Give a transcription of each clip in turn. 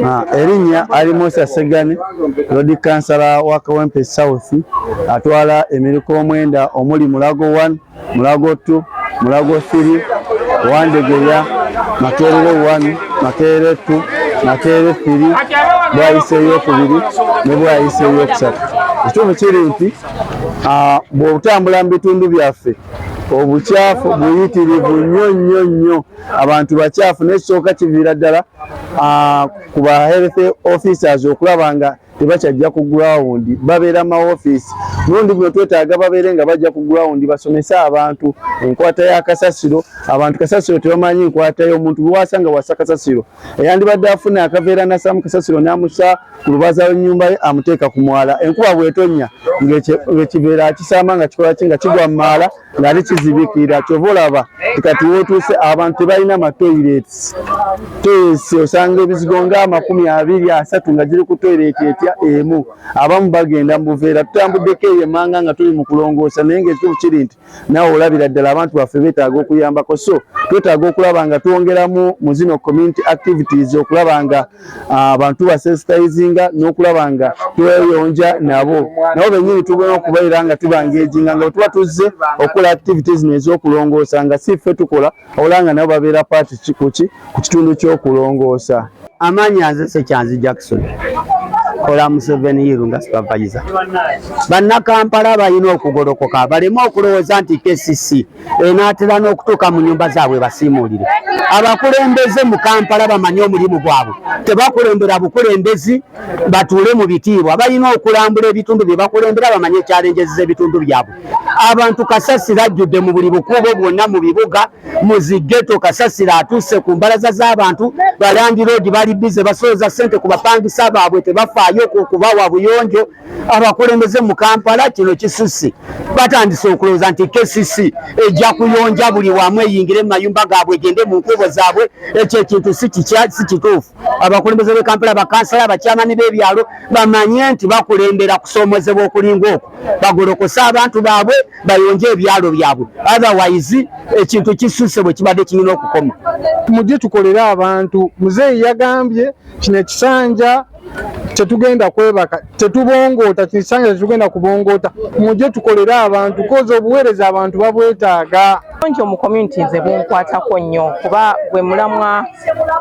Ah, erinnya ali musa segani lodi kansala wa kawempe south atwala emiriku omwenda omuli mulago 1 mulago tu mulago siri wandegeya makerere wani makerere tu makerere siri bwayise eyokubiri ne bwayise eyokusatu ekituufu kiri nti bw'otambula mu bitundu byaffe obukyafu buyitirivu nnyo nnyo nnyo abantu bakyafu n'ekisooka kiviira ddala ku ba health officers okulaba nga tebakyajja ku ground babeera ma office mulundi guno twetaaga babeere nga bajja ku ground basomese abantu enkwata ya kasasiro abantu kasasiro tebamanyi enkwata yomuntu biwasa nga wasa kasasiro eyandibadde afuna akaveera nasamu kasasiro namusa ku lubaza lwenyumba ye amuteeka ku mwala enkuba bwetonya ngaekiveera akisaama nga kikolaki nga kigwa mu maala nali kizibikira kyova olaba kati wotuuse abantu tebalina matoilets toyesi osanga ebizigo nga amakumi abiri asatu nga giri ku toilet etya emu abamu bagenda mu buveera tutambuddeko eyo emanga nga tuli mu kulongoosa naye ngaekitufu kiri nti nawe olabira ddala abantu baffe betaaga okuyambako so twetaaga okulaba nga twongeramu mu zino community activities okulaba nga ah, abantu basensitizinga n'okulaba nga tweyonja nabo nabo benyini tugena okubeera nga tubangeejinga nga bwetuba tuzze okukola activities nezokulongoosa nga si ffe tukola obola nga nabo babeera paati kikuki ku kitundu ky'okulongoosa amaanyi aze sekyanzi jackson kola Museveni yiru nga supervisor. Bannakampala balina okugolokoka baleme okulowooza nti KCC enaatera n'okutuuka mu nyumba zaabwe basiimuulire abakulembeze mu kampala bamanye omulimu gwabwe tebakulembera bukulembezi batuule mu bitiibwa balina okulambula ebitundu bye bakulembera bamanye ekyalenjezeza ebitundu byabwe abantu kasasiro ajjudde mu buli bukuubo bwonna mu bibuga mu zigeto kasasiro atuuse ku mbalaza z'abantu balandiroodi bali bize basooza ssente ku bapangisa baabwe tebafaayo kubawa buyonjo abakulembeze mu kampala kino kisusse batandise okulowooza nti kcc ejja kuyonja buli wamu eyingire mu mayumba gaabwe egende mu nkuubo zaabwe ekyo ekintu si kituufu abakulembeze b'e kampala bakansala abakyamani b'ebyalo bamanye nti bakulembera kusoomozebwa okulinga okwo bagolokose abantu baabwe bayonje ebyalo byabwe otherwise ekintu kisusse bwe kibadde kirina okukoma mujje tukolere abantu muzeeyi yagambye kino ekisanja tetugenda kwebaka tetubongoota kisange tetugenda kubongoota muje tukolere abantu koza obuweereza abantu babwetaaga bungi omu community nze bunkwatako nnyo kuba gwe mulamwa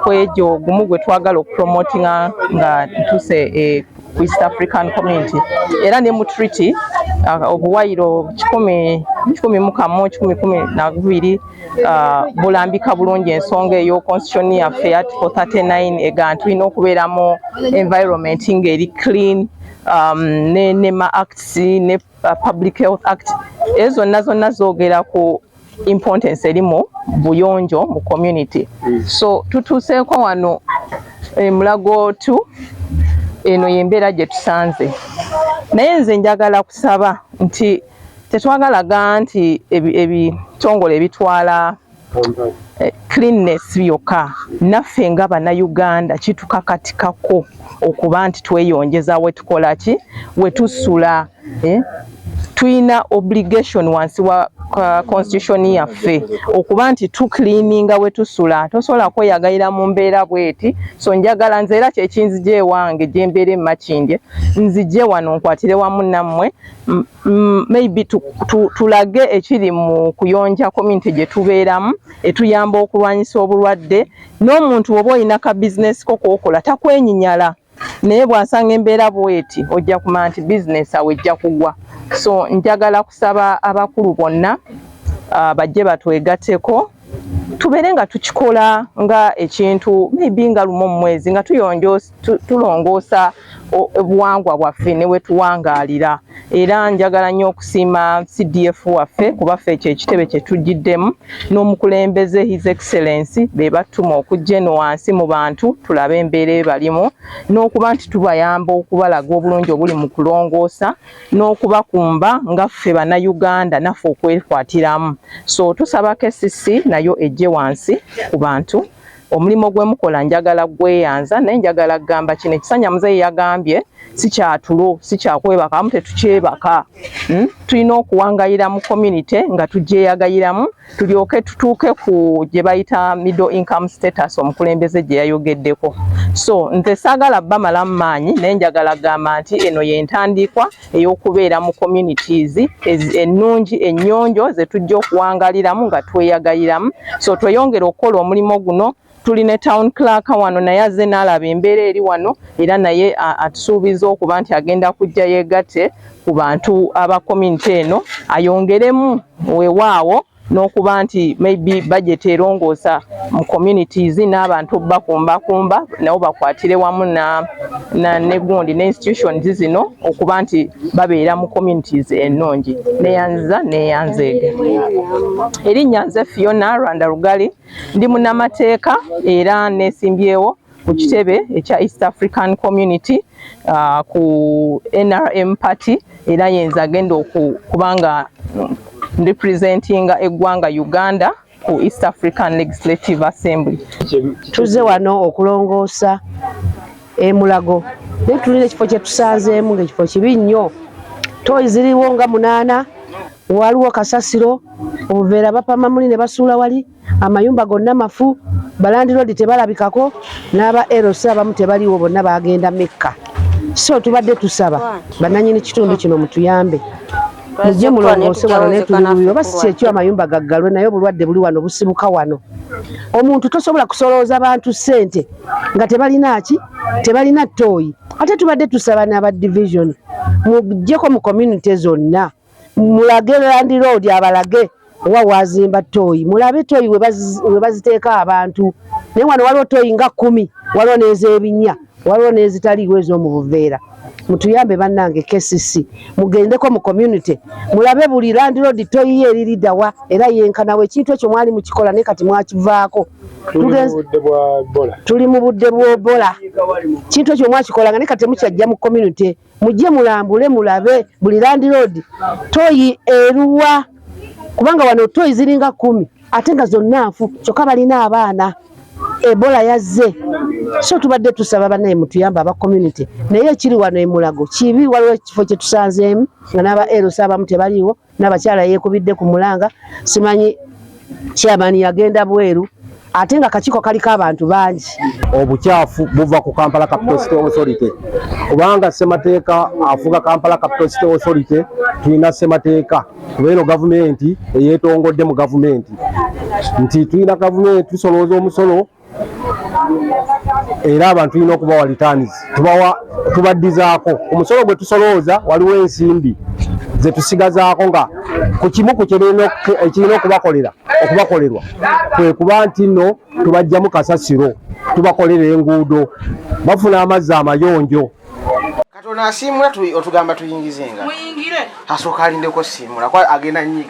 kwegyo gumu gwe twagala okupromotinga nga ntuse e, ku east african community era ne mu treaty uh, obuwayiro kikumi kikumi mu kamu kikumi kumi na bubiri uh, bulambika bulungi ensonga eyo constitution yaffe ya article 39 egaa tulina okubeera mu environment nga eri clean um, ne nema acts ne uh, public health act ezo zonna zonna zoogera ku importance eri mu buyonjo mu community mm. so tutuuseeko wano emulago eh, tu eno yembeera gye tusanze naye nze njagala kusaba nti tetwagalaga nti ebitongole ebitwala eh, cleanness byokka naffe nga bannayuganda kitukakatikako okuba nti tweyonjeza wetukola ki wetusula eh? tulina obligation wansi wa constitution yaffe okuba nti tucleaninga wetusula tosobola kweyagalira mu mbeera bweti so njagala nze era kyekinzija ewange gyembeera emakindye nzije wano nkwatire wamu nammwe mm, mm, maybe tulage ekiri mu kuyonja community gye tubeeramu etuyamba okulwanyisa obulwadde n'omuntu oba olina ka bizinesi ko kookola takwenyinyala naye bwasanga embeera bweti ojja kumanya nti bizinesi awo ejja kugwa so njagala kusaba abakulu bonna ah, bajje batwegateko tubeere nga tukikola nga ekintu maybe nga lumu omumwezi nga tuyonjoosa tulongoosa obuwangwa bwaffe ne wetuwangaalira era njagala nnyo okusiima CDF waffe kuba ffe ekyo ekitebe kye tujjiddemu n'omukulembeze His Excellency be battuma okujja eno wansi mu bantu tulabe embeera ebalimu n'okuba nti tubayamba okubalaga obulungi obuli mu kulongoosa n'okubakumba nga ffe bannayuganda naffe okwekwatiramu so tusaba KCC nayo ejje wansi ku bantu Omulimo gwe mukola njagala gweyanza naye njagala kugamba kino ekisanya muzeeyi yagambye sikyatulo sikyakwebaka amu tetukyebaka hmm? tulina okuwangayira mu community nga tugyeyagayiramu tulyoke tutuuke ku gye bayita middle income status omukulembeze gye yayogeddeko so nze saagala bamalamu maanyi naye njagala kugamba nti eno yentandiikwa ey'okubeera mu communities ennungi ennyonjo ze tujja okuwangaliramu nga tweyagaliramu so tweyongere okukola omulimu guno tuli ne town clerk wano naye azze n'alaba embeera eri wano era naye atusuubiza okuba nti agenda kujja yeegatte ku bantu aba community eno ayongeremu wewaawo n'okuba nti maybe budget erongoosa mu communities n'abantu obubakumbakumba nabo bakwatire wamu ne gundi ne institutions zino okuba nti babeera mu communities ennungi neyanziza neyanzeege erinnya nze fiona rwanda lugali ndi munamateeka era nesimbyewo ku kitebe ekya East African Community uh, ku NRM party era yenza agenda okubanga representinga eggwanga Uganda ku East African Legislative Assembly. Tuze wano okulongoosa emulago naye tulina ekifo kyetusanzeemu ngaekifo kibi nnyo toyi ziriwo nga munaana waliwo kasasiro obuveera bapama muli ne basuula wali amayumba gonna mafu balandiroodi tebalabikako n'aba lc abamu tebaliwo bonna bagenda mekka so tubadde tusaba bananyini kitundu kino mutuyambe mujje mulongoose wano netululuyo oba si kyekyo amayumba gaggalwe naye obulwadde buli wano busibuka wano omuntu tosobola kusolooza bantu ssente nga tebalina ki tebalina tooyi ate tubadde tusaba n'aba division mujjeko mu community zonna mulage landiroodi abalage owa wazimba tooyi mulabe tooyi we baziteeka abantu naye wano waliwo tooyi nga kumi waliwo n'ezebinya waliwo n'ezitaliiwo ez'omu buveera mutuyambe bannange kcc mugendeko mu community mulabe buli landiroodi tooyi ye eriridawa era yenkanawo ekintu ekyo mwali mukikola naye kati mwakivaako tuli mu budde bw'obola kintu ekyo mwakikolanga naye kati temukyajja mu community mujje mulambule mulabe buli landiroodi toyi eruwa kubanga wano toyi ziringa kumi ate nga zonna nfu kyokka balina abaana ebola yazze so tubadde tusaba banaye mutuyamba aba community naye ekiri wano emulago kibi waliwo ekifo kyetusanzeemu nga n'aba eros abamu tebaliiwo nabakyala yekubidde ku mulanga simanyi chairman yagenda bweru ate nga kakiiko kaliko abantu bangi obukyafu buva ku kampala capital city authority kubanga semateeka afuga kampala capital city authority tulina semateeka kuba eno gavumenti eyetongodde mu gavumenti nti tulina gavumenti tusolooza omusolo era abantu tulina okubawa returns tubawa tubaddizaako omusolo gwe tusolooza waliwo ensimbi ze tusigazaako nga ku kimu ku kirina okubakolera okubakolerwa kwe kuba nti nno tubajjamu kasasiro tubakolera enguudo bafuna amazzi amayonjo katonda asiimula otugamba tuyingize nga asooka alindeko siimula agenda nyiga